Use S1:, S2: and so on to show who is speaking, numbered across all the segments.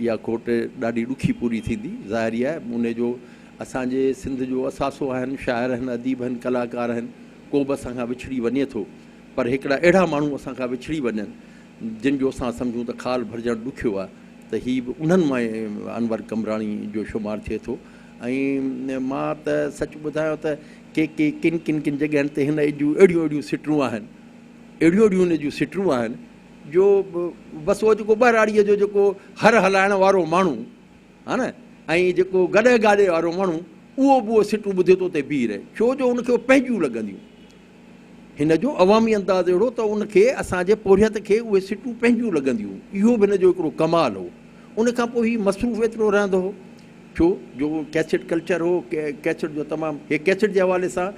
S1: اها کوٽ ڏاڍي ڏکي پوري ٿيندي. ظاهري آهي ان جو اسان جي سنڌ جو اثاثو آهن، شاعر آهن، اديب آهن، ڪلاڪار آهن، ڪو به اسان کان وڇڙي وڃي ٿو پر هڪڙا اهڙا ماڻهو اسان کان وڇڙي وڃن جن جو اسان سمجهون ته خال ڀرجڻ ڏکيو آهي ته هي به انهن مان انور قمبراڻي جو شمار ٿئي ٿو ۽ مان ته سچ ٻڌايان ته ڪي ڪي ڪن ڪن ڪن جڳهين تي هن جون اهڙيون اهڙيون سٽرون آهن اهڙيون اهڙيون هن جون سٽرون آهن جو بس اهو جيڪو ٻهراڙيء جو جيڪو هر هلائڻ وارو ماڻهو ها نه ۽ جيڪو گڏهه گاڏي وارو ماڻهو اهو به اهو سٽون ٻڌي ٿو اتي بيهي رهي ڇو جو ان کي اهو پنهنجيون لڳنديون. هن جو عوامي انداز اهڙو ته ان کي اسان جي پورهيت کي اهي سٽون پنهنجيون لڳنديون اهو به هن جو هڪڙو ڪمال هو. ان کان پوء هي مصروف ايترو رهندو هو. ٿيو جو اهو ڪيسٽ ڪلچر هو ڪيسٽ جو تمام هي ڪيسٽ جي حوالي سان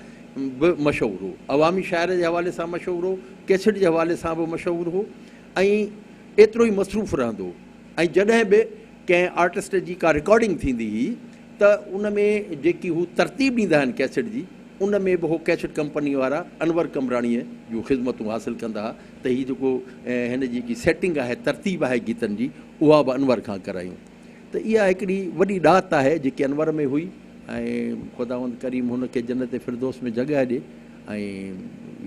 S1: به مشهور هو عوامي شاعري جي حوالي سان مشهور هو ڪيسٽ جي حوالي سان به مشهور هو ۽ ايترو ئي مصروف رهندو هو ۽ جڏهن به ڪنهن آرٽسٽ جي ڪا رڪارڊنگ ٿيندي هئي ته ان ۾ جيڪي هو ترتيب ڏيندا آهن ڪيسٽ جي ان ۾ به هو ڪيسٽ ڪمپني وارا انور قمبراڻيء جون خدمتون حاصل ڪندا هئا ته هي جيڪو هن جيڪي سيٽنگ آهي ترتيب آهي گيتن جي اها به انور کان ڪرايون ته اها هڪڙي وڏي ڏات آهي جيڪي انور ۾ هئي ۽ خداوند ڪريم هن کي جنت فردوس ۾ جڳهه ڏي ۽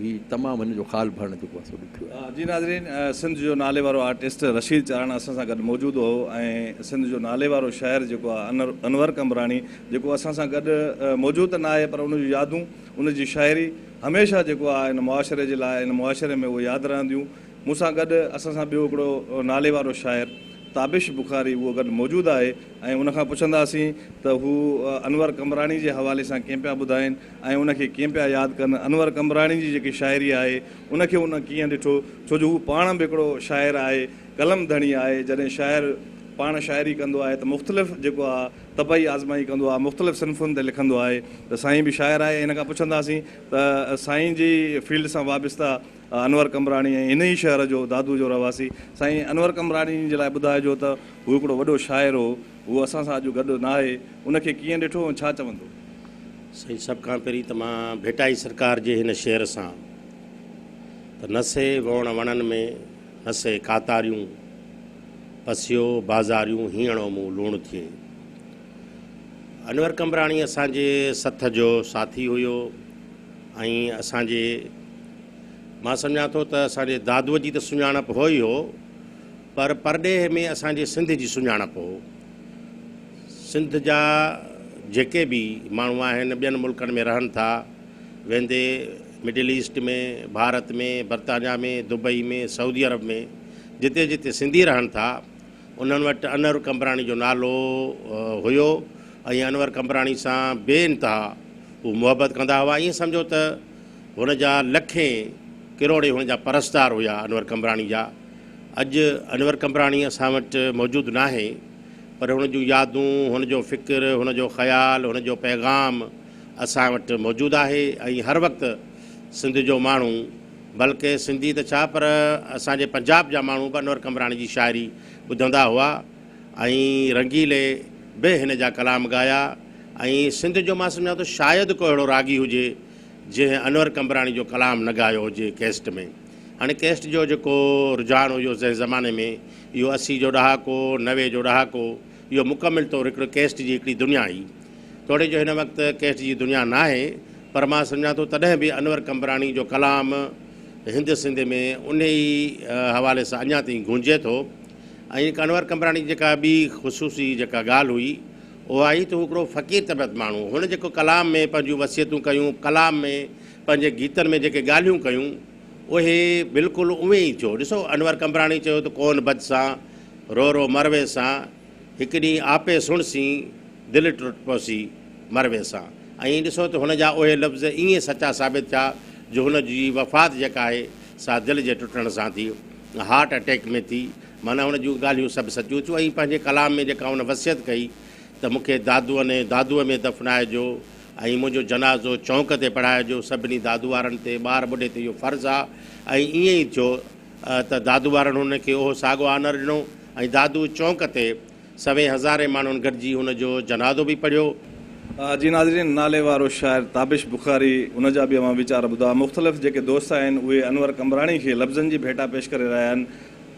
S1: هي تمام هن جو خال ڀرڻ جيڪو آهي سو ڏکيو آهي. جي ناظرين سنڌ
S2: جو ناليوارو آرٽسٽ رشيد چاراڻا اسان سان گڏ موجود هو ۽ سنڌ جو ناليوارو شاعر جيڪو آهي انر انور قمبراڻي جيڪو اسان سان گڏ موجود ته ناهي پر ان جون يادون ان جي شاعري هميشه جيڪو آهي ان معاشري جي لاء ان معاشري ۾ اهي ياد رهنديون. مون سان گڏ اسان سان ٻيو هڪڙو ناليوارو شاعر تابش بخاري اهو گڏ موجود آهي ۽ ان کان پڇنداسين ته هو انور قمبراڻي جي حوالي سان ڪئين پيا ٻڌائين ۽ ان کي ڪئين پيا ياد ڪن انور قمبراڻي جي جيڪي شاعري آهي ان کي هن ڪيئن ڏٺو ڇو جو هو پاڻ به هڪڙو شاعر آهي قلم ڌڻي آهي جڏهن شاعر پاڻ شاعري ڪندو آهي ته مختلف جيڪو آهي طبعي آزمائي ڪندو آهي مختلف صنفن تي لکندو آهي ته سائين به شاعر آهي ان کان پڇنداسين ته سائين جي فيلڊ سان وابسته انور قمبراڻي ۽ هن ئي شهر جو دادو جو رهواسي سائين انور قمبراڻي جي لاء ٻڌائجو ته هو هڪڙو وڏو شاعر هو، هو اسان سان اڄ گڏ ناهي، ان کي ڪيئن ڏٺو ۽ ڇا چوندو؟ سائين سڀ
S3: کان پهرين ته مان ڀٽائي سرڪار جي هن شعر سان ته نسي ووڻ وڻن ۾ نسي ڪاتاريون پسيو بازاريون هينئڻو مون لوڻ ٿئي. انور قمبراڻي اسان جي سٿ جو ساٿي هيو. ۽ اسان جي مان سمجهان ٿو ته اسان جي دادوء جي ته سڃاڻپ هو ئي هو پر پرڏيهه ۾ اسان جي سنڌ جي سڃاڻپ هو. سنڌ جا جيڪي به ماڻهو آهن ٻين ملڪن ۾ رهن ٿا ويندي مڊل ايسٽ ۾ ڀارت ۾ برطانيا ۾ دبئي ۾ سعودي عرب ۾ جتي جتي سنڌي رهن ٿا انهن وٽ انور قمبراڻي جو نالو هيو ۽ انور قمبراڻي سان بي انتها هو محبت ڪندا هئا. ائين سمجهو ته هن جا لکين ڪروڙين هن جا پرستار هيا انور قمبراڻي جا. اڄ انور قمبراڻي اسان وٽ موجود ناهي پر هن جون يادون، هن جو فڪر، هن جو خيال، هن جو پيغام اسان وٽ موجود آهي ۽ هر وقت سنڌ جو ماڻهو، بلڪه سنڌي ته ڇا پر اسان جي پنجاب جا ماڻهو به انور قمبراڻي جي شاعري ٻڌندا هئا ۽ رنگيلي به هن جا ڪلام ڳايا ۽ سنڌ جو مان سمجهان ٿو شايد ڪو اهڙو راڳي هجي جنهن انور قمبراڻي جو ڪلام نه ڳايو هجي ڪيسٽ ۾ هاڻي ڪيسٽ جو جيڪو رجحان هيو زنهن زماني ۾ اهو اسي جو ڏهاڪو نوي جو ڏهاڪو اهو مڪمل طور هڪڙو ڪيسٽ جي هڪڙي دنيا هئي. توڙي جو هن وقت ڪيسٽ جي دنيا ناهي، پر مان سمجهان ٿو تڏهن به انور قمبراڻي جو ڪلام هند سنڌ ۾ انهي ئي حوالي سان اڃا تائين گونجي ٿو ۽ انور قمبراڻي جي جيڪا ٻي خصوصي جيڪا ڳالهه هئي اها هئي ته هو هڪڙو فقير طبيعت ماڻهو هو. هن جيڪو ڪلام ۾ پنهنجون وصيتون ڪيون، ڪلام ۾ پنهنجي گيتن ۾ جيڪي ڳالهيون ڪيون اهي بلڪل اوهين ئي ٿيو. ڏسو انور قمبراڻي چيو ته ڪون بد سان رو رو مر ويسان، هڪ ڏينهن آپي سڻ سين، دل ٽٽ پوسي، مر ويسان. ائين ڏسو ته هن جا اهي لفظ ايئن سچا ثابت ٿيا جو هن جي وفات جيڪا آهي سا دل جي ٽٽڻ سان ٿي، هارٽ اٽيڪ ۾ ٿي، معنيٰ هن جون ڳالهيون سڀ سچيون ٿيون ۽ پنهنجي ڪلام ۾ جيڪا هن وصيت ڪئي ته مون کي دادوء نئين دادوء ۾ دفنائجو ۽ منهنجو جنازو چونڪ تي پڙهائجو، سڀني دادو وارن تي، ٻار ٻڍي تي اهو فرض آ ۽ ايئن ئي ٿيو. ته دادو ٻارڙن هن کي اهو ساڳو آنر ڏنو ۽ دادو چونڪ تي سوين هزارين ماڻهن گڏجي هن جو جنازو به پڙهيو. جي ناظرين
S2: ناليوارو شاعر تابش بخاري ان جا به اوهان ويچار ٻڌا مختلف جيڪي دوست آهن اهي انور قمبراڻي کي لفظن جي ڀيٽا پيش ڪري رهيا آهن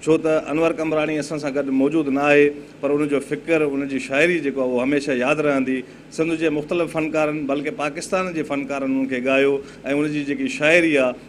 S2: ڇو ته انور قمبراڻي اسان سان گڏ موجود نه آهي پر ان جو فڪر ان جي شاعري جيڪو اهو هميشه ياد رهندي سنڌ جي مختلف فنڪارن بلڪه پاڪستان جي فنڪارن ان کي ڳايو ۽ ان جي جيڪي شاعري آهي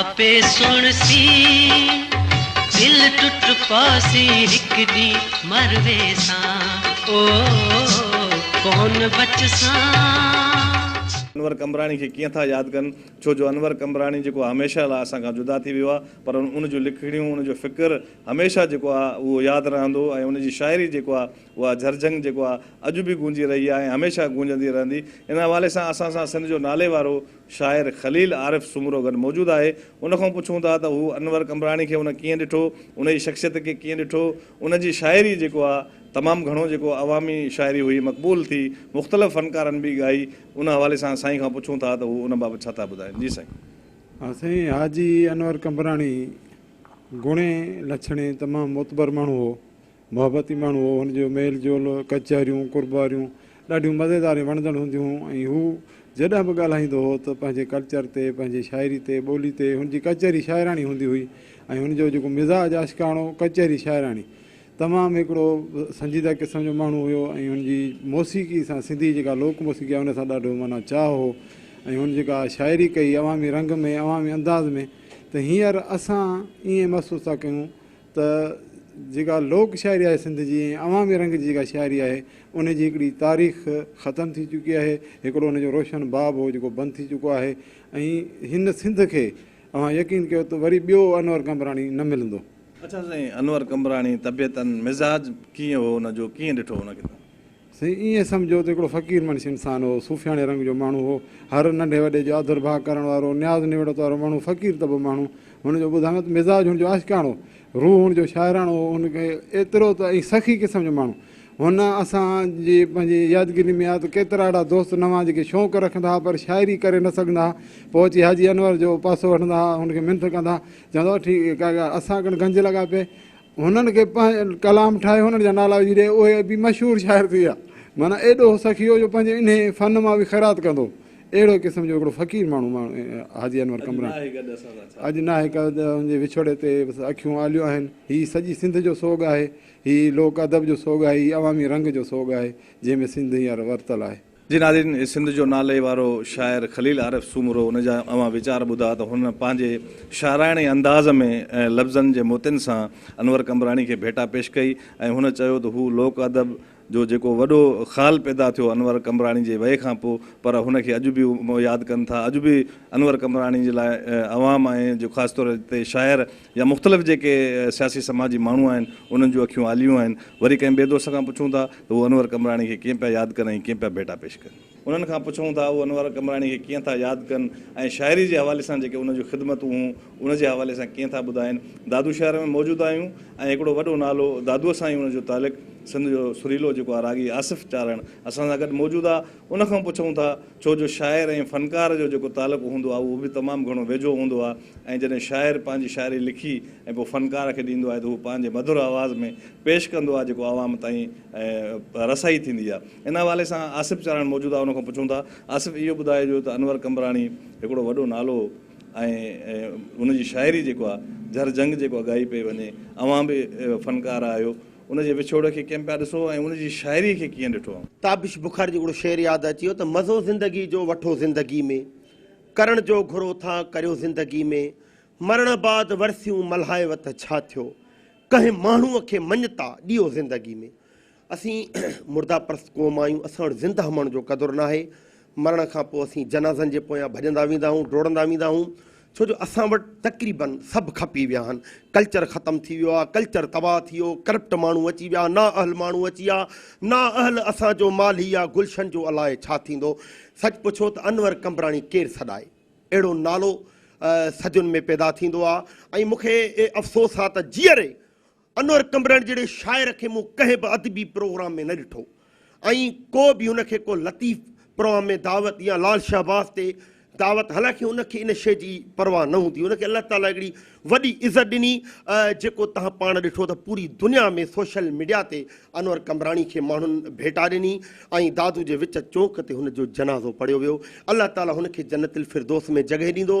S4: آپي سڻ سي دل ٽٽ پاسي هڪ ڏي مروي سان او ڪون بچ سان.
S2: انور قمبراڻي کي ڪيئن ٿا ياد ڪن ڇو جو انور قمبراڻي جيڪو آ هميشه لا اسان کان جدا ٿي ويو آ پر ان جون لکڻيون ان جو فڪر هميشه جيڪو آ اهو ياد رهندو ۽ ان جي شاعري جيڪو آ اها جھرجھنگ جيڪو آ اڄ به گونجي رهي آ ۽ هميشه گونجندي رهندي ان حوالي سان اسان سان سنڌ جو ناليوارو شاعر خليل عارف سومرو گڏ موجود آهي، ان کان پڇون ٿا ته هو انور قمبراڻي کي ان ڪيئن ڏٺو، ان جي شخصيت کي ڪيئن ڏٺو، ان جي شاعري جيڪو آ تمام گهڻو جيڪو عوامي شاعري هئي مقبول ٿي، مختلف فنڪارن به ڳائي، ان حوالي سان سائين کان پڇون ٿا ته هو ان بابت ڇا ٿا ٻڌائين، جي سائين. ها سائين
S5: حاجي انور قمبراڻي گڻي لڇڻي تمام معتبر ماڻهو هو، محبتي ماڻهو هو. هن جو ميل جول، ڪچهريون، قرباريون ڏاڍيون مزيدار ۽ وڻندڙ هونديون هيون ۽ هو جڏهن به ڳالهائيندو هو ته پنهنجي ڪلچر تي، پنهنجي شاعري تي، ٻولي تي، هن جي ڪچهري شاعراڻي هوندي هئي ۽ هن جو جيڪو مزاج عاشقاڻو، ڪچهري شاعراڻي. تمام هڪڙو سنجيده قسم جو ماڻهو هيو ۽ هن جي موسيقي سان سنڌي جيڪا لوڪ موسيقي آهي ان سان ڏاڍو معنيٰ چاهه هو ۽ هن جيڪا شاعري ڪئي عوامي رنگ ۾، عوامي انداز ۾، ته هينئر اسان ائين محسوس ٿا ڪيون ته جيڪا لوڪ شاعري آهي سنڌ جي ۽ عوامي رنگ جي جيڪا شاعري آهي ان جي هڪڙي تاريخ ختم ٿي چڪي آهي هڪڙو ان جو روشن باب هو جيڪو بند ٿي چڪو آهي ۽ هن سنڌ کي اوهان يقين ڪيو ته وري ٻيو انور قمبراڻي نه ملندو. اڇا سائين انور
S2: قمبراڻي طبيعتن مزاج ڪيئن هو ان جو ڪيئن ڏٺو هن ڪتاب. سائين ائين
S5: سمجهو ته هڪڙو فقير منش انسان هو، صوفياڻي رنگ جو ماڻهو هو، هر ننڍي وڏي جو آڌر ڀاء ڪرڻ وارو، نياز نوڙت وارو ماڻهو، فقير طبع ماڻهو، هن جو ٻڌايان ته مزاج هن جو عاشقاڻو، روح هن جو شاعراڻو هو، هن کي ايترو ته ۽ سخي قسم جو ماڻهو. هن اسان جي پنهنجي يادگيرين ۾ آهي ته ڪيترا اهڙا دوست نه هئا جيڪي شوق رکندا ها پر شاعري ڪري نه سگهندا ها، پوء اچي حاجي انور جو پاسو وٺندا ها، هن کي منٿ ڪندا ها، چوندا هئا ٺيڪ ڪا ڳالهه اسان ڪن گهنج لڳا پئي. هنن کي پنهنجو ڪلام ٺاهي هنن جا نالا وجهي ڏئي اهي ادبي مشهور شاعر ٿي ويا. معنيٰ ايڏو هو سخي هو جو پنهنجي انهيء فن مان به خيرات ڪندو اهڙو قسم جو هڪڙو فقير ماڻهو ماڻهو حاجي انور قمبراڻي اڄ ناهي گڏ اسان سان هن جي وڇوڙي تي بس اکيون آليون آهن هي سڄي سنڌ جو سوڳ آهي هي لوڪ ادب جو سوڳ آهي هي عوامي رنگ جو سوڳ آهي جنهن ۾ سنڌ هينئر ورتل آهي. جي ناظرين سنڌ
S2: جو نالي وارو شاعر خليل عارف سومرو ان جا اوهان ويچار ٻڌا ته هن پنهنجي شاعراڻي انداز ۾ ۽ لفظن جي موتين سان انور قمبراڻي کي ڀيٽا پيش ڪئي ۽ هن چيو ته هو لوڪ ادب جو جيڪو وڏو خال پيدا ٿيو انور قمبراڻي جي وئي کان پو پر هن کي اڄ به ياد ڪن ٿا اڄ به انور قمبراڻي جي لاء عوام ۽ جو خاص طور تي شاعر يا مختلف جيڪي سياسي سماجي ماڻهو آهن انهن جون اکيون آليون آهن، وري ڪنهن ٻئي دوست کان پڇون ٿا ته هو انور قمبراڻي کي ڪيئن پيا ياد ڪن ۽ ڪيئن پيا ڀيٽا پيش ڪن. انهن کان پڇون ٿا هو انور قمبراڻي کي ڪيئن ٿا ياد ڪن ۽ شاعري جي حوالي سان جيڪي ان جون خدمتون هون ان جي حوالي سان ڪيئن ٿا ٻڌائن. دادو شهر ۾ موجود آهيون ۽ هڪڙو وڏو نالو دادوء سان ۽ ان جو تعلق سنڌ جو سريلو جيڪو آهي راڳي آصف چارڻ اسان سان گڏ موجود آهي. ان کان پڇون ٿا ڇو جو شاعر ۽ فنڪار جو جيڪو تعلق هوندو آهي اهو به تمام گهڻو ويجهو هوندو آهي ۽ جڏهن شاعر پنهنجي شاعري لکي ۽ پوء فنڪار کي ڏيندو آهي ته هو پنهنجي مڌر آواز ۾ پيش ڪندو آهي جيڪو عوام تائين رسائي ٿيندي آهي ان حوالي سان آصف چاراڻ موجود آهي ان کان پڇون ٿا آصف اهو ٻڌائجو ته انور قمبراڻي هڪڙو وڏو نالو ۽ ان جي شاعري جيڪو آهي جهر جهنگ جيڪو اڳائي پئي وڃي اوهان به فنڪار آهيو ان جي وڇوڙ کي ڪين پيا ڏسو ۽ ان جي شاعري کي ڪيئن ڏٺو؟ تابش بخار جو هڪڙو
S6: شعر ياد اچي ويو ته مزو زندگي جو وٺو زندگي ۾ ڪرڻ جو گهرو ٿا ڪريو زندگي ۾ مرڻ بعد ورسيون ملهايو ته ڇا ٿيو ڪنهن ماڻهو کي مڃتا ڏيو زندگي ۾ اسين مرده پرست قوم آهيون اسان وٽ زنده ماڻهن جو قدر ناهي مرڻ کان پوء اسين جنازن جي پويان ڀڄندا ويندا آهيون، ڊوڙندا ويندا آهيون، ڇو جو اسان وٽ تقريباً سڀ کپي ويا آهن، ڪلچر ختم ٿي ويو آهي، ڪلچر تباهه ٿي ويو، ڪرپٽ ماڻهو اچي ويا، نااهل ماڻهو اچي ويا، نااهل اسان جو مالهي يا گلشن جو الاء ڇا ٿيندو، سچ پڇو ته انور قمبراڻي ڪير سڏائي، اهڙو نالو سڌين ۾ پيدا ٿيندو آهي ۽ مون کي افسوس آهي ته جيئري انور ڪنڀرڻ جهڙي شاعر کي مون ڪنهن به ادبي پروگرام ۾ نه ڏٺو ۽ ڪو به هن کي ڪو لطيف پروام ۾ دعوت يا لال شهباز تي دعوت حالانڪه هن کي ان شيء جي پرواهه نه هوندي هن کي الله تعاليٰ هڪڙي وڏي عزت ڏني جيڪو تهان پاڻ ڏٺو ته پوري دنيا ۾ سوشل ميڊيا تي انور ڪنڀراڻي کي ماڻهن ڀيٽا ڏني ۽ دادو جي وچ چونڪ تي هن جو جنازو پڙهيو ويو الله تعاليٰ هن کي جنت الفردوس ۾ جڳهه ڏيندو.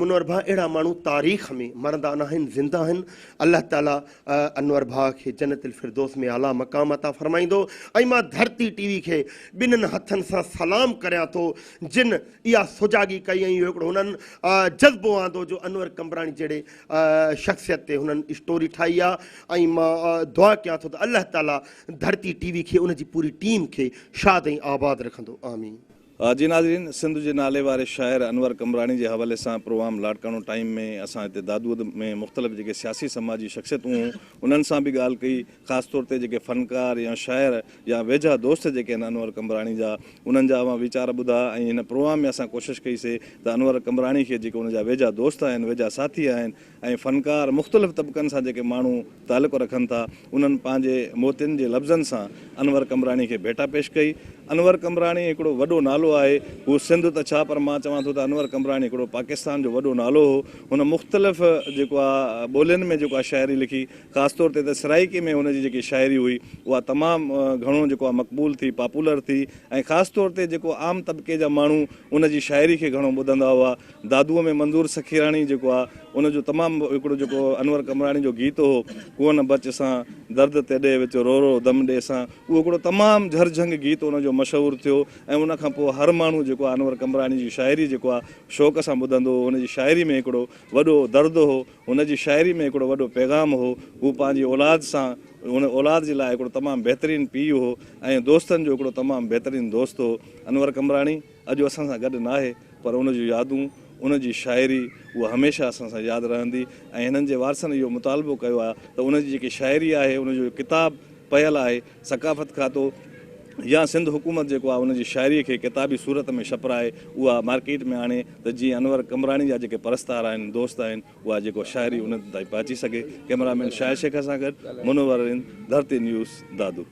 S6: منور ڀاء اهڙا ماڻهو تاريخ ۾ مرندا ناهن زنده آهن الله تعالي انور ڀاء کي جنت الفردوس ۾ اعليٰ مقام عطا فرمائيندو ۽ مان ڌرتي ٽي وي کي ٻنهن هٿن سان سلام ڪريان ٿو جن اها سجاڳي ڪئي ۽ اهو هڪڙو هنن جذبو آندو جو انور قمبراڻي جهڙي شخصيت تي هنن اسٽوري ٺاهي آ ۽ مان دعا ڪيان ٿو ته الله تعالي ڌرتي ٽي وي کي ان جي پوري ٽيم کي شاد ۽ آباد رکندو آمين. جي ناظرين
S2: سنڌ جي نالي واري شاعر انور قمبراڻي جي حوالي سان پروام لاڙڪاڻو ٽائيم ۾ اسان هتي دادوء ۾ مختلف جيڪي سياسي سماجي شخصيتون هون انهن سان به ڳالهه ڪئي خاص طور تي جيڪي فنڪار يا شاعر يا ويجها دوست جيڪي آهن انور قمبراڻي جا انهن جا اوهان ويچار ٻڌا ۽ هن پروام ۾ اسان ڪوشش ڪئي سي ته انور قمبراڻي کي جيڪي ان جا ويجها دوست آهن ويجها ساٿي آهن ۽ فنڪار مختلف طبقن سان جيڪي ماڻهو تعلق رکن ٿا انهن پنهنجي موتين جي لفظن سان انور قمبراڻي کي ڀيٽا پيش ڪئي. انور قمبراڻي هڪڙو وڏو نالو آهي. هو سنڌ ته ڇا پر مان چوان ٿو ته انور قمبراڻي هڪڙو پاڪستان جو وڏو نالو هو. هن مختلف جيڪو آ ٻولين ۾ جيڪو آ شاعري لکي خاص طور تي ته سرائيڪي ۾ هن جي جيڪي شاعري هئي اها تمام گهڻو جيڪو آ مقبول ٿي پاپولر ٿي ۽ خاص طور تي جيڪو عام طبقي جا ماڻهو ان جي شاعري کي گهڻو ٻڌندا هئا. دادوء ۾ منظور سخيراڻي جيڪو آ ان جو تمام هڪڙو جيڪو انور قمبراڻي جو گيت هو ڪون بچ سان درد تي ڏي وچ رو رو دم ڏي سان اهو هڪڙو تمام جھر جھنگ گيت ان جو مشهور ٿيو ۽ ان کان پوء هر ماڻهو جيڪو آ انور قمبراڻي جي شاعري جيڪو آ شوق سان ٻڌندو هو هن جي شاعري ۾ هڪڙو وڏو درد هو هن جي شاعري ۾ هڪڙو وڏو پيغام هو هو پنهنجي اولاد سان هن اولاد جي لاء هڪڙو تمام بهترين پيء هو ۽ دوستن جو هڪڙو تمام بهترين دوست هو انور قمبراڻي. اڄ اسان سان گڏ ناهي پر ان جون يادون، ان جي شاعري اها هميشه اسان سان ياد رهندي ۽ هنن جي وارثن اهو مطالبو ڪيو آهي ته ان جي جيڪي شاعري آهي ان جو ڪتاب پيل آهي ثقافت کاتو يا سنڌ حڪومت جيڪو آهي ان جي شاعري کي ڪتابي صورت ۾ ڇپرائي اها مارڪيٽ ۾ آڻي ته جيئن انور قمبراڻي جا جيڪي پرستار آهن دوست آهن اها جيڪو شاعري انهن تائين پهچي سگهي ڪئميرا مين شاهد شيخ سان گڏ منور رند ڌرتي نيوز دادو.